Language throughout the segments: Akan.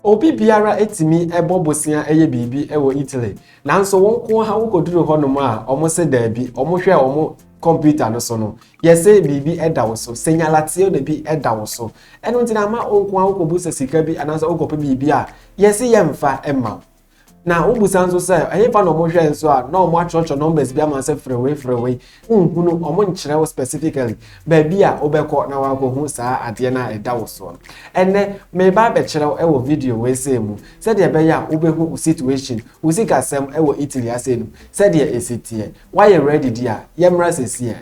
Obi biara tumi bɔ bosea yɛ biribi wɔ Italy, nanso wo nko ara wukoduru hɔnom a wɔse daabi, wɔhwɛɛ wɔn kɔmputa no so no, yɛse biribi da wo so, segnalazione bi da wo so. Ɛno nti na ama wo nko ara wokɔbu sɛ sika bi anaasɛ wokɔpɛ biribi a, yɛse yɛmfa mma wo. na wobisa nso sɛ ɛhefa na wɔhwɛ nso a na wɔatwerɛtwerɛ numbers bi ama sɛ frewei frewei nhunu wɔn nkyerɛ wo specifically baabi a wobɛkɔ na wakɔhu saa adeɛ no a ɛda wo soɔ no ɛnɛ meba abɛkyerɛ wo wɔ video wei sei mu sɛdeɛ ɛbɛyɛ a wobɛhu wo situation wo sikasɛm wɔ Italy asɛe no sɛdeɛ ɛsi teɛ woayɛ ready di a yɛmmra sɛsiɛ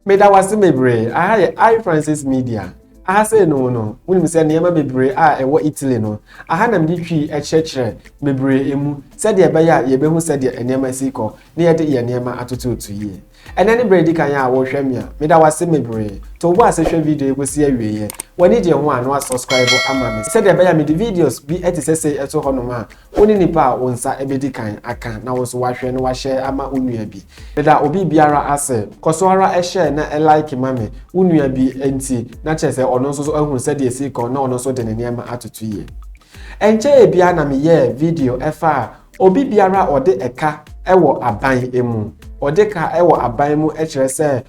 meda wo ase bebree aha yɛ i francis media aha sɛ no no wonim sɛ nneɛma bebree a ɛwɔ italy no aha na mede twii ɛkyerɛkyerɛ bebree mu sɛdeɛ ɛbɛyɛ a yɛbɛhu sɛdeɛ nneɛma si kɔ na yɛde yɛ nneɛma atototo yie ɛnɛ ne berɛ di kan a wɔhwɛ me a meda wo ase bebree to wobɔ ase hwɛ video yi kɔsi awieɛ w'ani gye ho a na wasubscribe ama me sɛdeɛ ɛbɛyɛ a mede videos bi ɛte sɛ sei ɛto hɔnom a Wo ne nipa a wo nsa bedi kan aka na wo nso woahwɛ na woahyɛ ama wo nua bi. Meda obi biara ase. Kɔ so ara share na like ma me. Wo nua bi nti na kyerɛ sɛ ɔno nso so ahu sɛdeɛ ɛsi rekɔ na ɔno nso de ne nneɛma atoto yie. Ɛnkyɛeɛ biara na meyɛɛ video faa obi biara a ɔde ɛka wɔ aban mu. Ɔde ka wɔ aban mu kyerɛ sɛ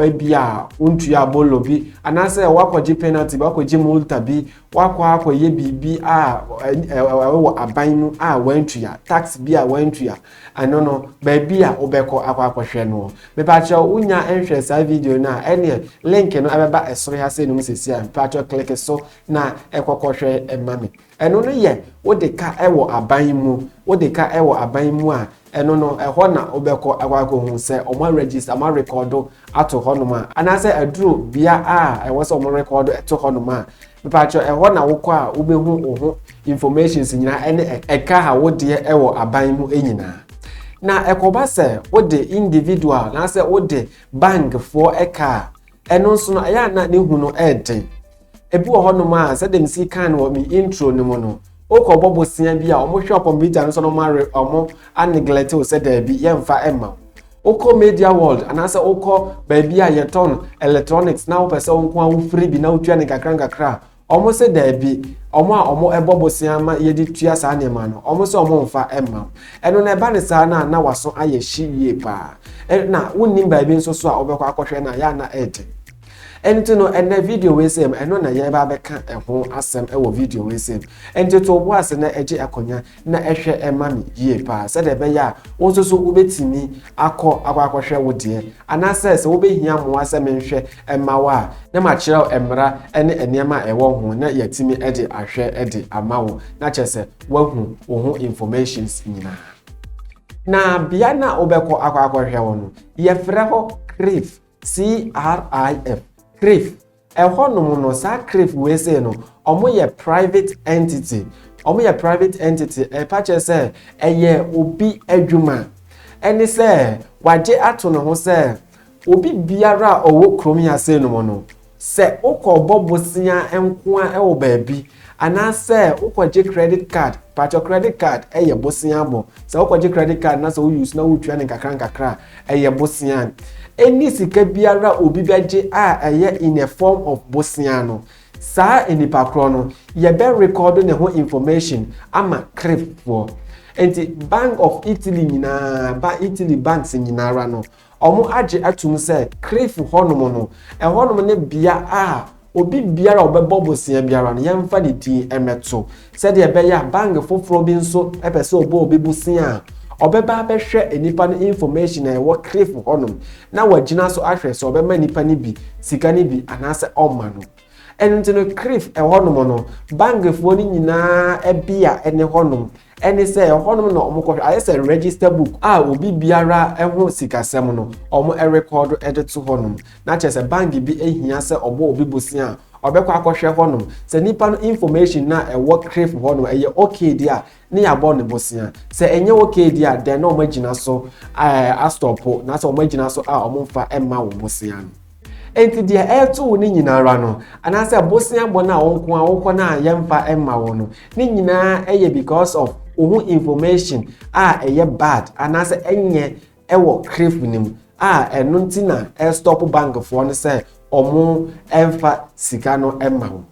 Ebia wontuaa bolo bi, anaasɛ woakɔgye penalty bi, woakɔgye multa bi, woakɔ akɔyɛ biribi a ɛwɔ aban mu a wantua, tax bi a wantua. Ɛno no, baabi a wobɛkɔ akɔ akɔhwɛ no. Mepakyɛ wonya nhwɛ saa video no a, ɛneɛ link no ɛbɛba ɛsoro ha sɛ nom sɛsi a, mepakyɛ click so na ɛkɔkɔhwɛ ɛma me. Ɛno no yɛ wode ka wɔ aban mu. Wode ka wɔ aban mu a, ɛno no, ɛhɔ na wobɛkɔ akɔ akɔhu sɛ wɔaregister, wɔarekɔdo ato hɔnom a, anaasɛ aduru bea a ɛwɔ sɛ wɔrekɔdo to hɔnom a, mepaakyɛw, ɛhɔ na wokɔ a wobɛhu wo ho informations nyinaa ɛne ɛka a wodeɛ wɔ aban mu nyinaa. Na ɛkɔba sɛ wode individual anaasɛ wode bankfoɔ ka a, Ɛno nso no, ɛyɛ a na ne hu no yɛ den. Ebi wɔ hɔnom a, sɛdeɛ mesi kan no wɔ me intro no mu no, wokɔbɔ bosea bi a, wɔhwɛ kɔmputa no so na wɔare wɔn aneglɛte wo sɛ daabi, yɛmfa mma wo. Wokɔ media world anaasɛ wokɔ baabi a yɛtɔn electronics na wopɛ sɛ wo nko ara wofiri bi na wotua no nkakra nkakra a, Wɔn se daabi, wɔn a wɔn ɛbɔ bosea ma yɛde tua saa nneɛma no, wɔn se wɔn nfa mma wo. Ɛno no ɛba no saa no a na w'aso ayɛ hye yie paa. Na wonnim baabi nso so a wobɛkɔ akɔhwɛ no a, yɛ a na ɛɛden. Ɛnti no ɛnɛ video wei sei mu, ɛno na yɛɛba abɛka ɛho asɛm ɛwɔ video wei sei mu. Ɛnti to wo bo ase na ɛgye akonya. na ɛhwɛ ma me yie paa sɛdeɛ ɛbɛyɛ a wo nso so wobɛtumi akɔ akɔ akɔhwɛ wo deɛ anaasɛ sɛ wobɛhia mmoa sɛ menhwɛ mma wo a na makyerɛ wo mmara ne nneɛma a ɛwɔ ho na yɛatumi de ahwɛ de ama wo na kyerɛ sɛ woahu wo ho informations nyinaa na bea no a wobɛkɔ akɔ akɔhwɛ wo no yɛfrɛ hɔ crif crif crif Ɛhɔnom no, saa crif wei sei no, ɔmo yɛ private entity, ɔmo yɛ private entity, ɛpa kyerɛ sɛ ɛyɛ obi adwuma, ɛne sɛ wagye ato ne ho sɛ obi biara a ɔwɔ kurom yi ase nom no, sɛ wokɔ bɔ bosea nkoa wɔ baabi, Anaasɛ wokɔgye credit card, pakyɛw credit card yɛ bosea bɔ. Sɛ wokɔgye credit card na sɛ wo use na woretua no nkakra nkakra a, ɛyɛ bosea. Any sika biara a obi bɛgye a ɛyɛ in a form of bosea no, saa nipa korɔ no, yɛbɛ record ne ho information ama crip foɔ. Nti Bank of Italy nyinaa, Italy banks nyinara no, Wɔagye atom sɛ Crieff hɔnom no, ɛhɔnom ne bea a obi biara a ɔbɛbɔ bosea biara no, yɛmfa ne din mmɛto, sɛdeɛ ɛbɛyɛ a bank foforɔ bi nso pɛ sɛ ɔbɔ obi bosea a, ɔbɛba abɛhwɛ nnipa no information a ɛwɔ Crieff hɔnom na wagyina so ahwɛ sɛ ɔbɛma nnipa no bi sika no bi anaasɛ ɔmma no. Ɛno nti no, Crieff hɔnom no, bankfoɔ no nyinaa bea ne hɔnom. Ɛne sɛ ɛhɔnom na wɔkɔhwɛ, ayɛ sɛ register book a obi biara ho sikasɛm no wɔrekɔɔdo de to hɔnom. Na kyerɛ sɛ bank bi hia sɛ ɔbɔ obi bosea a, ɔbɛkɔ akɔhwɛ hɔnom. Sɛ nipa no information no a ɛwɔ CRIF hɔ no ɛyɛ okay deɛ a, ne yɛabɔ no bosea. Sɛ ɛnyɛ okay deɛ a, then na wɔagyina so astɔpo, na sɛ wɔagyina so a wɔmfa mma wo bosea no. Enti deɛ ɛreto wo no nyina ara no, anaasɛ bosea bɔ no a wo nko ara wokɔ no a yɛmfa mma wo no, ne nyina ara yɛ because of wo ho information a ɛyɛ bad anaasɛ ɛnyɛ ɛwɔ crave no mu a ɛno nti na ɛrestop bankfoɔ no sɛ wɔn mfa sika no mma wo.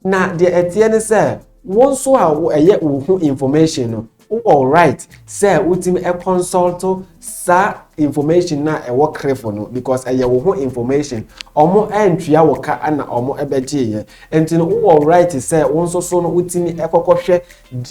Na deɛ ɛteɛ ne sɛ wo nso a ɛyɛ wo ho information no wowɔ right sɛ wotumi consult saa information no a ɛwɔ krefo no because ɛyɛ wo ho information ɔmo antua wɔ ka ana ɔmo ɛbɛgyeeɛ nti no wowɔ right sɛ wo nso so no wotumi ɛkɔkɔhwɛ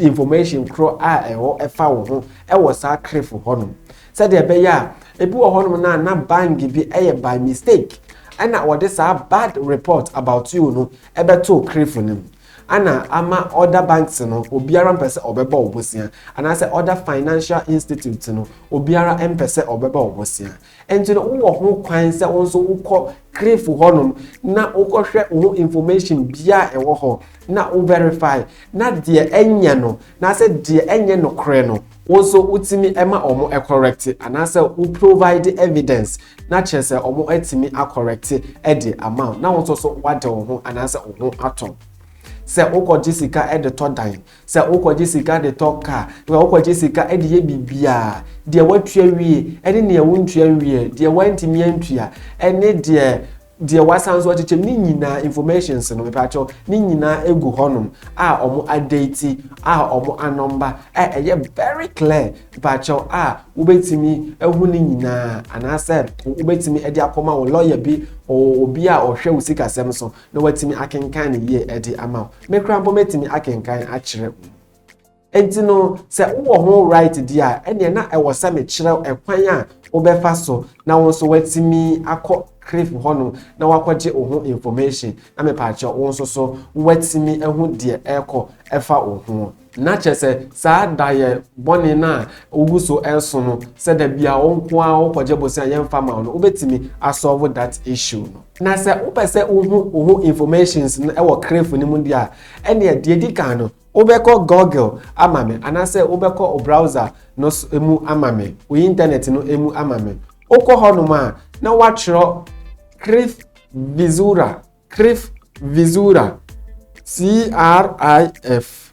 information korɔ a ɛwɔ ɛfa wo ho ɛwɔ saa krefo hɔ no Sɛdeɛ ɛbɛyɛ a, ebi wɔ hɔnom no a na bang bi yɛ by mistake ɛna wɔde saa bad report about you no bɛtoo crif no mu ɛna ama other banks no obiara mpɛ sɛ ɔbɛbɔ wo bosea anaasɛ other financial institutes no obiara mpɛ sɛ ɔbɛbɔ wo bosea nti no wowɔ ho kwan sɛ wo nso wokɔ crif hɔnom na wokɔhwɛ wo ho information bia a ɛwɔ hɔ na wo verify na deɛ ɛnyɛ no na sɛ deɛ ɛnyɛ nokorɛ no Wo nso wotumi ma wɔn kɔrɛkte anaasɛ wo provide evidence na kyerɛ sɛ wɔatumi akɔrɛkte de ama wo na wo nso so woade wo ho anaasɛ wo ho atɔ wo. Sɛ wokɔgye sika de tɔ dan, sɛ wokɔgye sika de tɔ car, sɛ wokɔgye sika de yɛ biribiara, deɛ woatua wie ne deɛ wontua nwieɛ, deɛ woantumi antua ne deɛ Deɛ wasan nso akyekyɛm ne nyinaa informations no mepaakyɛw ne nyinaa egu hɔnom a wɔn adate a wɔn anɔmba a ɛyɛ very clear mepaakyɛw a wobɛtumi ahu ne nyinaa anaasɛ wobɛtumi ɛde akɔma wo lawyer bi obi a ɔhwɛ wo sikasɛm so na watumi akenkan ne yie ɛde ama wo mekora mpo mɛtumi akenkan akyerɛ wo. Enti no, sɛ wowɔ ho right di a, ɛnneɛ na ɛwɔ sɛ mekyerɛ wo ɛkwan a wobɛfa so na wo nso woatumi akɔ CRIF hɔ nom na woakɔgye wo ho information, na mepaakyɛw, wo nso so woatumi ahu deɛ ɛrekɔ ɛfa wo ho. Na kyerɛ sɛ, saa daeɛ bɔne no a wogu so reso no, sɛ da bia wo nko ara wokɔgye bosea a yɛmfa mma wo no, wobɛtumi a solve that issue no. Na sɛ wopɛ sɛ wohu wo ho informations no wɔ CRIF no mu deɛ a, ɛnneɛ deɛ ɛdi kan no, Wobɛkɔ Google ama me anaasɛ wobɛkɔ wo browser no mu ama me, wo Intanɛt no mu ama me. Wokɔ hɔnom a, na wɔatwerɛ Crif Visuura, Crif Visuura, C-R-I-F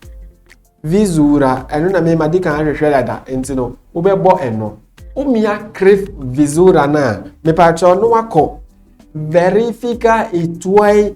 Visuura, ɛno na me madi kan ahwehwɛ dada, nti no wobɛbɔ ɛno. Womia Crif Visuura no a, mepaakyɛw na woakɔ Verifica e tuoi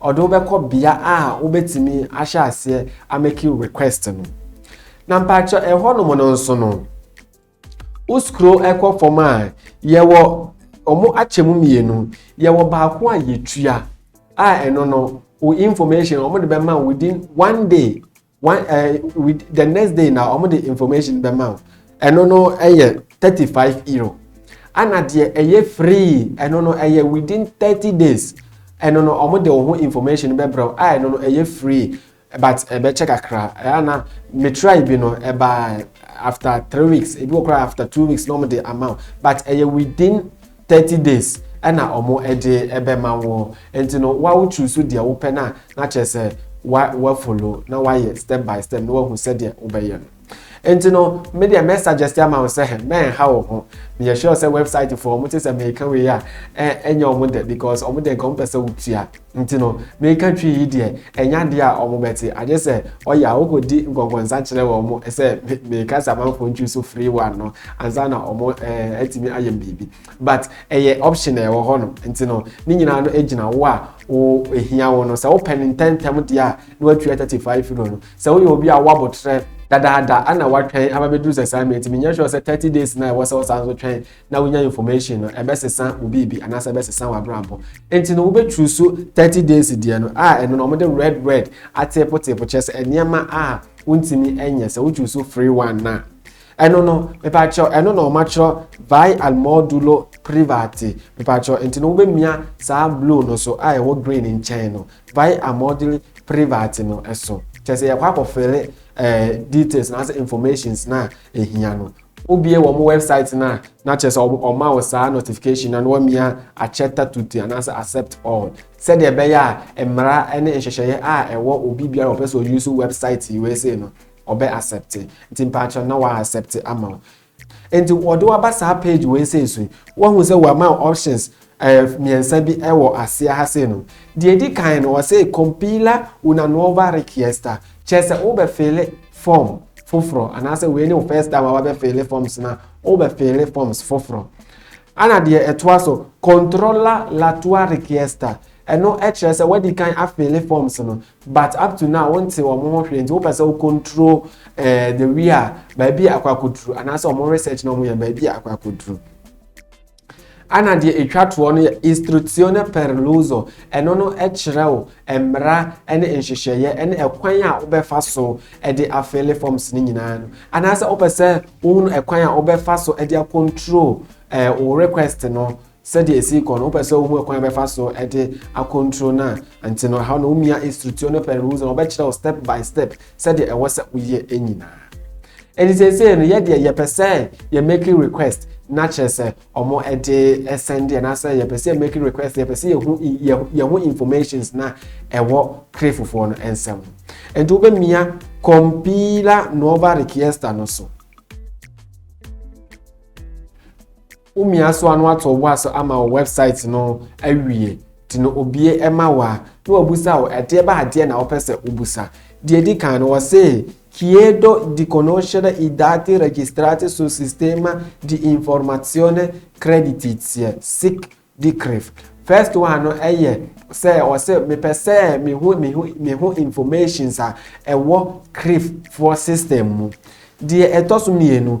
Ɔde wo bɛkɔ bea a wobɛtumi ahyɛ aseɛ amɛki request no. Na mpakyɛ ɛhɔ nom no nso no, wo skro ɛkɔ fam a, yɛwɔ ɔmo akyɛ mu mmienu. Yɛwɔ baako a yɛtua a ɛno no, wo information ɔmo de bɛma within one day one uh, with the next day na wɔn de information bɛ ma o ɛno no ɛyɛ thirty five euro ɛna deɛ ɛyɛ free ɛno no ɛyɛ within thirty days ɛno no wɔn de wɔn ho information bɛ brɛ a ɛno no ɛyɛ free but ɛbɛkyɛ kakra ɛna metrai bi no ɛba after three weeks ebi wɔ koraa after two weeks na wɔn de ama o but ɛyɛ within Thirty days na ɔmo ɛde ɛbɛma wo nti no wa wo choose deɛ wo pɛ no a na kyerɛ sɛ wa wa follow na wa yɛ step by step na wa hu sɛdeɛ wo bɛ yɛ no nti no me deɛ mɛ suggest ama wo sɛ hɛ mɛ ɛnha wo ho me yɛ sure sɛ website foɔ ɔmo te sɛ mɛ ɛka wei a ɛ ɛnyɛ ɔmo dɛ because ɔmo deɛ nka ɔmo pɛ sɛ wo tua Nti no, meeka Twi yi deɛ, ɛnyɛ adeɛ a wɔbɛte, agye sɛ ɔyɛ a wokɔdi nkɔnkɔnsa kyerɛ wɔn sɛ meekasa amanfoɔ Twi so free one no, ansa na wɔn eh, atumi ayɛ biribi. But ɛyɛ option a ɛwɔ hɔ no, nti no, ne nyinaa no gyina wo a wo ehia wo no. Sɛ wopɛ no ntɛntɛm deɛ a, na watua 35 euro no. Sɛ woyɛ obi a woabotrɛ, dadaada na woatwɛn aba bɛduru sɛ saa mɛtumi, nyɛ sure sɛ 30 days no a ɛwɔ sɛ wosan so twɛn na wonya information no ɛbɛsesa wo biribi anaasɛ ɛbɛsesa w'abrabɔ nti no wobɛturu so 30 days deɛ no a ɛno no wɔde red red ateepoteepo kyerɛ sɛ nneɛma a wontumi nyɛ sɛ woturu so free one na ɛno no mepaakyɛw ɛno na wɔakyerɛ vai al modulo private mepaakyɛw nti no wobɛmia saa blue no so a ɛwɔ green nkyɛn no vai al modulo private no ɛso kyerɛ sɛ yɛkɔ akɔfele ɛɛ eh, details na asɛ informations na ehia no Wobue wɔn wɛbsaet no a, na kyerɛ sɛ wɔma wo saa notification no na wɔamia akyɛ tatuti anaasɛ accept all sɛdeɛ ɛbɛyɛ a mmara ne nhyehyɛeɛ a ɛwɔ obi biara ɔpɛ sɛ ɔyusu wɛbsaet yi wei sei no ɔbɛ accept nti mpaakyɛ na wa accept ama wo nti wɔde waba saa page wei sei so woahu sɛ wɔama options Ayɛ mmiɛnsa bi wɔ aseɛ ha sei no. Deɛ ɛdi kan no, ɔse compila una nuova richiesta, kyerɛ sɛ wobɛfeele form foforɔ, anaasɛ wei ne wo first time a wabɛfeele forms no a, wobɛfeele forms foforɔ. Ana deɛ ɛtoa so, controlla la tua richiesta, ɛno kyerɛ sɛ wadi kan afeele forms no but up to now wonte wɔn ho hwee nti wopɛ sɛ wo control eh, the way a baabi a akɔ akɔduru anaasɛ wɔn research na wɔyɛ baabi a akɔ akɔduru. Ana deɛ ɛtwa toɔ no yɛ istruzione per l'uso, ɛno no kyerɛ wo mmara ne nhyehyɛeɛ ne ɛkwan a wobɛfa so de afele forms no nyinaa no. Anaasɛ wopɛ sɛ wohunu ɛkwan a wobɛfa so de akontrol eh, wo request no sɛdeɛ ɛsi kɔ no wopɛ sɛ wohu ɛkwan a wobɛfa so de akontrol no a nti no ɛhɔ no womia istruzione per l'uso na wɔbɛkyerɛ wo step by step sɛdeɛ ɛwɔ sɛ woyɛ nyinaa ɛnti seesei no yɛ deɛ yɛpɛ sɛ yɛ making request na kyerɛ sɛ ɔmo ɛde ɛsɛn deɛ na sɛ yɛpɛ sɛ yɛ making request yɛpɛ sɛ yɛhu yɛho informations na ɛwɔ kre fofoɔ no ɛnsɛm ɛnti wobɛmia compila nova requesta no so Womia so a na wato wo aso ama wo website no awie nti no obie ɛma wo a na wabisa wo ɛdeɛ ba adeɛ na wopɛ sɛ wobusa. Deɛ ɛdi kan no wɔse Chiedo di conoscere i dati registrati sul sistema di informazione creditizia, sic di CRIF. First one no ɛyɛ sɛ wɔse mepɛ sɛ mehu me ho informations a ɛwɔ CRIF foɔ system mu. Deɛ ɛtɔ so mmienu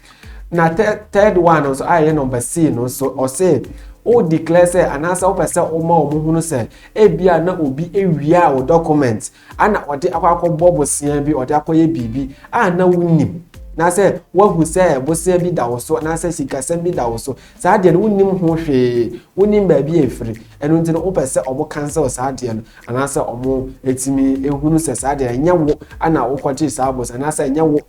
na third one nso a ɛyɛ number c no nso ɔse o declare sɛ anaasɛ wopɛ sɛ woma wɔn hunu sɛ ebi a na obi awia a wɔ document ana ɔde akɔ akɔbɔ bosea bi ɔde akɔyɛ biribi a na wonim na sɛ woahu sɛ bosea bi da wo so anaasɛ sikasɛm bi da wo so saa deɛ no wonim ho hwee wonim baabi a ɛfiri ɛno nti no wopɛ sɛ ɔmo cancel saa deɛ no anaasɛ ɔmo ɛtumi ɛhunu sɛ saa deɛ ɛnyɛ wo ana wokɔgye saa bosea anaasɛ ɛnyɛ wo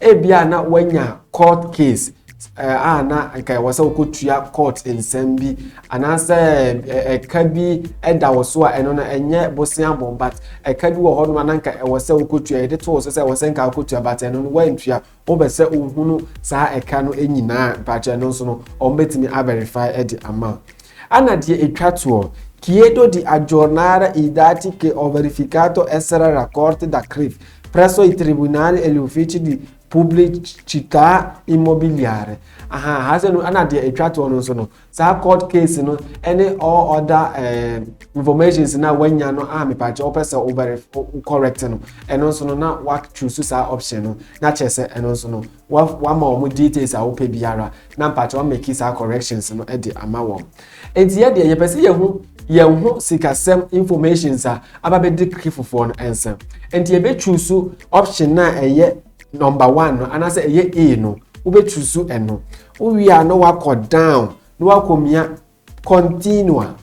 ebia na wanya court case eh, a na nka ɛwɔ sɛ wokɔtua court nsɛm bi anaasɛ eh, ɛka bi ɛda wo so a ɛno no ɛnyɛ bosea bɔn but ɛka bi wɔ hɔ nom a na nka ɛwɔ sɛ wokɔtua yɛde too so sɛ ɛwɔ sɛ nka wokɔtua but ɛno no woantua wobɛ sɛ wohunu saa ɛka no nyinaa mpakyɛ no nso no ɔmbɛtumi averify de ama ana deɛ ɛtwa toɔ Chiedo di aggiornare i dati che ho verificato essere raccolti da CRIF Presso il Tribunale e gli Uffici di Pubblicità Immobiliare. Aha, ha sɛ no, ɛna deɛ ɛtwa toɔ no nso no, saa court case no ɛne all other eh, informations na wanya no a mepaakyɛ wopɛ sɛ wobɛre correct no, ɛno nso no na wa choose saa option no, na kyerɛ sɛ ɛno nso no Wa wama wɔn details a wopɛ biara na mpakyɛ wa make saa corrections no de ama wɔn. Enti yɛ deɛ yɛpɛ sɛ yɛhu yɛn ho sikasɛm informations a aba bɛdi keke fofoɔ no nsa. Enti yɛbɛ choose option no a ɛyɛ number one no anaasɛ ɛyɛ A no wobɛ choose ɛno. Wowie a na wakɔ down na wakɔmia continua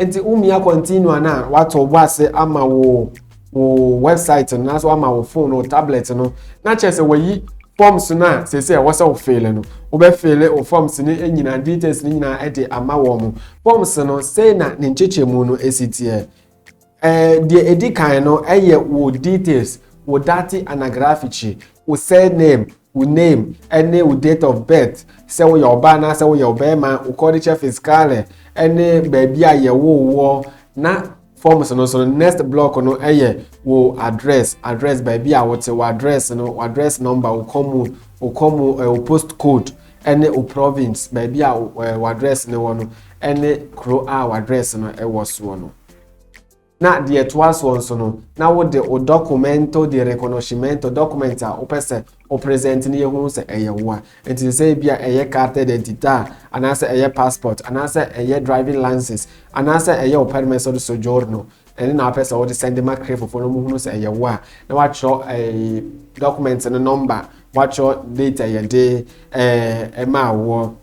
nti womia continua no a wato bɔ ase ama wo wo website no anaasɛ wama wo phone wo tablet no na kyerɛ sɛ wayi forms no a sɛ sɛ ɛwɔ sɛ wofeele no wobɛfeele wo forms no nyinaa details no nyinaa de ama wɔn forms no sei na ne nkyekyɛmu no ɛsi teɛ Eh, deɛ ɛdi kan no ɛyɛ wo details wo date anagraphici wo surname wo name ɛne wo date of birth sɛ woyɛ ɔbaa anaasɛ woyɛ ɔbɛrima wo codice fiscale ɛne baabi a yɛwoo woɔ na forms no so no next block no ɛyɛ wo address address baabi a wote wo address no wo address number wo kɔmu wo kɔmu eh, wo post code ne wo province, baabi a w'address no wɔ no, ne kuro a w'address no wɔ soɔ no. Na deɛ ɛtoa soɔ nso no, na wode wo documento de reconhecimento document a wopɛ sɛ wo present no yɛhu sɛ ɛyɛ wo a. Nti sɛ ebi a ɛyɛ carta d'identità a, anaasɛ ɛyɛ passport, anaasɛ ɛyɛ driving license, anaasɛ ɛyɛ wo permesso de soggiorno, ɛne na wopɛ sɛ wode sɛnde ma krefofo no muhunu sɛ ɛyɛ wo a na wakyerɛ eh, document no nɔmba wakyerɛ date a yɛde eh, ɛmaa woɔ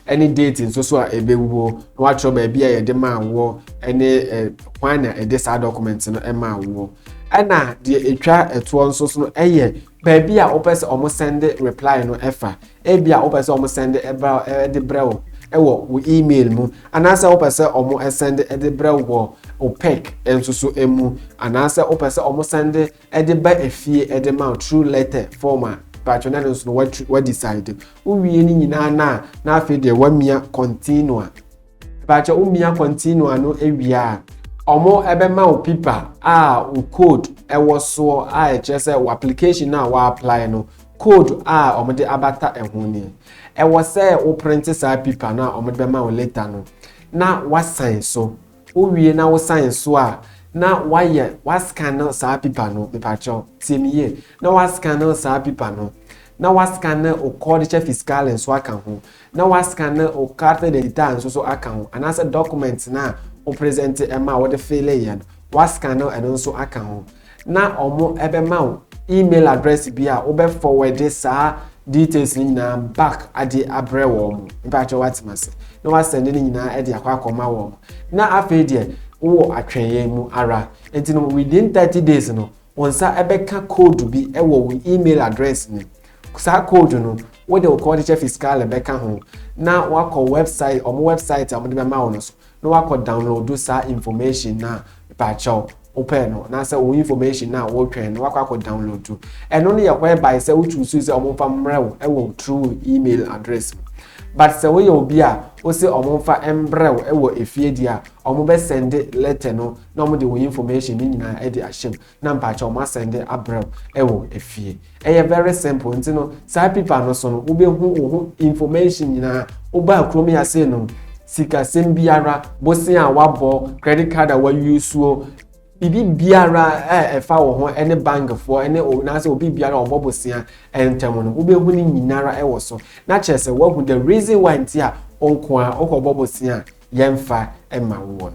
ɛne date nso so a ɛbɛwuo na wakyerɛ baabi a yɛde maa woɔ ɛne eh, kwan na ɛde saa document no ɛmaa woɔ ɛna deɛ ɛtwa ɛtoɔ nso so no ɛyɛ baabi a wopɛ sɛ ɔmo sɛnde reply no ɛfa Ebia wopɛ sɛ wɔn sɛnde ɛbra ɛde brɛ wo ɛwɔ wo email mu, anaasɛ wopɛ sɛ wɔn ɛsɛnde ɛde brɛ wo wɔ wo pec nso so ɛmu, anaasɛ wopɛ sɛ wɔn sɛnde ɛde ba efie ɛde ma wo through letter form a, patro na ɛno nso no wa wa decide. Wowie ne nyinaa na na afei deɛ wamia continue. Ɛbɛakyɛ wo mia kɔntino ano awia a, ɔmo ɛbɛma wo pipa a wo code ɛwɔ soɔ a ɛkyerɛ sɛ wo application no a wa apply no code a ɔmo de abata ɛho nie. Ɛwɔ sɛ wo printe saa pipa no a ɔmo de bɛma wo later no na wa sign so. Wo wie na wo sign so a na wayɛ wa scan saa pipa no mepakyɛ wo tie me yie na wa scan saa pipa no na wa scan wo codice fiscal nso aka ho na wɔaskanne wo carte d'identité nso so aka ho, anaasɛ document no a wo presente ɛma a wode fille yɛ no, wɔaskanne ɛno nso aka ho, na wɔbɛma wo email address bi a wobɛ forward saa details no nyinaa back ade abrɛ wɔn, mpakyɛw wate m'ase, na wɔasɛnde no nyinaa ɛde akɔ akɔma wɔn, na afei deɛ wowɔ atwɛnyɛn mu ara, nti no within thirty days no Wo nsa bɛka koodu bi wɔ wo e-mail address mu. Saa koodu no, wode wo Codice Fiscale bɛka ho na woakɔ wɛbsaet, wɔn wɛbsaet a wɔde bɛma wo no so na woakɔ downloadu saa information no a mpakyɛw wopɛɛ no anaasɛ wo information no a wotwɛn no woakɔ akɔ downloadu. Ɛno no yɛ whereby sɛ wo choose sɛ wɔmfa mmrɛ wo wɔ through wo e-mail address mu. But sɛ woyɛ obi a wose wɔmfa mmrɛ wo wɔ efie deɛ a, wɔbɛsɛnde letter no na ɔmo de wo information ne nyinaa ɛde ahyɛ mu na mpakyɛw ɔmo asɛnde abrɛ wo ɛwɔ efie ɛyɛ very simple nti no saa pipa no so no wo bɛ hu wo ho information nyinaa wo baa kurom yi ase no sikasɛm biara bosen a wabɔ credit card a wawie suo biribi biara a ɛfa wo ho ne bankfoɔ ne naasɛ obi biara a ɔbɔ bosea ntam no wobɛhu no nyinara wɔ so na kyerɛ sɛ woahu the reason why nti a ɔnko a wokɔbɔ bosea yɛmfa ma woɔ no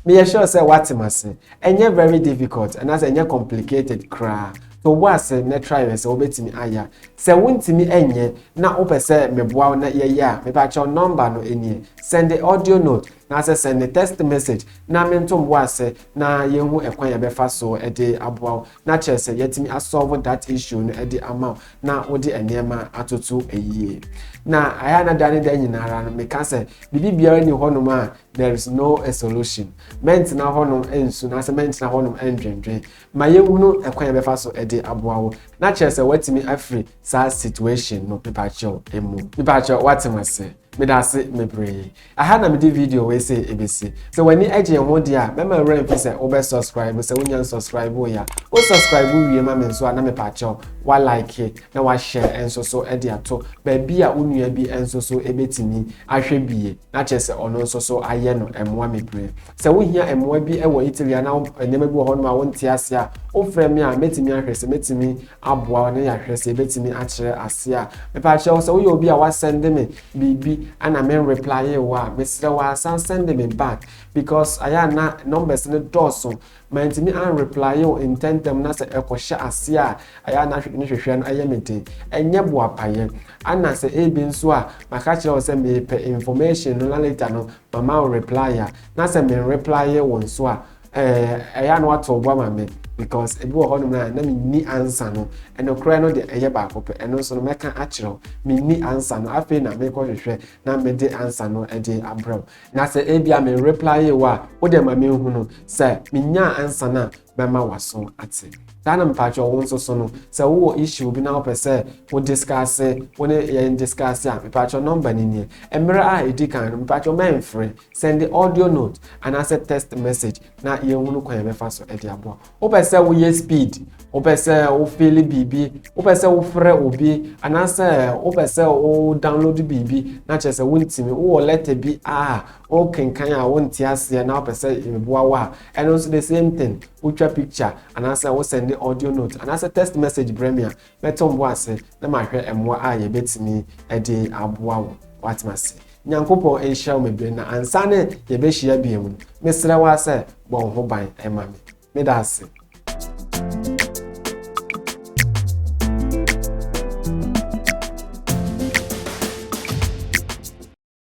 meyɛ sure sɛ woate m ase ɛnyɛ very difficult anaasɛ ɛnyɛ complicated koraa to wobɔ ase na try yɛ sɛ wobɛtumi ayɛ a sɛ wontumi ɛnyɛ na wopɛ sɛ meboa wo na yɛyɛ a mepakyɛw nɔmba no ɛniɛ send the audio note na sɛ send the text message na mento mboa ase na yɛhu ɛkwan yɛbɛfa so ɛde aboa wo na kyerɛ sɛ yɛatumi asolve that issue no ɛde ama wo na wode nneɛma atoto ɛyie na ayɛ anada ne da nyinara no meka sɛ biribi biara ni hɔnom a There is no a solution. Mɛntena hɔnom ansu anaasɛ mɛntena hɔnom andwendwen. Ma yɛnhunu ɛkwan a yɛbɛfa so de aboa wo na kyerɛ sɛ woatumi afiri saa situation no mepaakyɛw emu. Mepaakyɛw, woate me ase? Meda ase bebree. Aha na mede video wei sei ɛbɛsi. Sɛ w'ani gye yɛn ho deɛ a, mɛma wo werɛ mfi sɛ wobɛ subscribe, sɛ wonya nsubscribe yɛ a. Wo subscribe wie ma me nso a na mepaakyɛw wa like na wa share nso so de ato baabi a wo nua bi nso so bɛtumi ahwɛ bie. na kyerɛ sɛ ɔno nso so ayɛ no mmoa bebree. Sɛ wohia mmoa bi wɔ Italy anaa nneɛma bi wɔ hɔnom a wonte ase a, wofrɛ me a, mɛtumi ahwɛ sɛ mɛtumi aboa wo na yɛahwɛ sɛ yɛbɛtumi akyerɛ ase a. Mepa kyɛ wo sɛ woyɛ obi a woasɛnde me biribi na menreplyee wo a, mesrɛ wo ara san sɛnde me back because ayɛ a na numbers no dɔɔso Mantumi an replye wo ntɛntɛm na sɛ ɛkɔ hyɛ aseɛ a ɛyɛ a na ahwehwɛ ne hwehwɛ no yɛ me den. Ɛnyɛ boapayɛ. Ana sɛ ebi nso a maka kyerɛ wo sɛ mepɛ information no na later no mama wo replye a na sɛ men replye wo nso a eh ɛyɛ a na woato wo bo ama me because ebi wɔ hɔ nom a na menni answer no. Nokorɛ no deɛ ɛyɛ baako pɛ. Ɛno nso no mɛka akyerɛ wo. Menni answer no. Afei na mekɔ hwehwɛ na mede answer no de abrɛ wo. Na sɛ ebia me replyee wo a, wo deɛ ma menhu no. Sɛ menyaa ansa no a, mɛma w'aso ate. Saa na mpaatwɔ wo nso so no, sɛ wowɔ issue bi na wopɛ sɛ wo discuss, wo ne yɛn discuss a, mpaatwɔ number no nie. Mmerɛ a ɛdi kan no, mpaatwɔ mɛnfrɛ, sɛnde audio note anaasɛ text message na yɛnhunu kwan a yɛbɛfa so de aboa. wopɛ sɛ woyɛ speed wopɛ sɛ wofeele biribi wopɛ sɛ wofrɛ obi anaasɛ wopɛ sɛ wo download biribi na kyerɛ sɛ wontumi wowɔ lɛtɛ bi a wokenkan a wonte aseɛ na wopɛ sɛ meboa wo a ɛno nso the same thing wotwa picture anaasɛ wosɛnde audio note anaasɛ text message brɛ me a Mɛto mmoa ase na mahwɛ mmoa a yɛbɛtumi de aboa wo. Woate m'ase? Nyankopɔn nhyira wo bebree na ansa ne yɛbɛhyia biom no, mesrɛ wo ara sɛ bɔ wo ho ban ma me. Meda ase.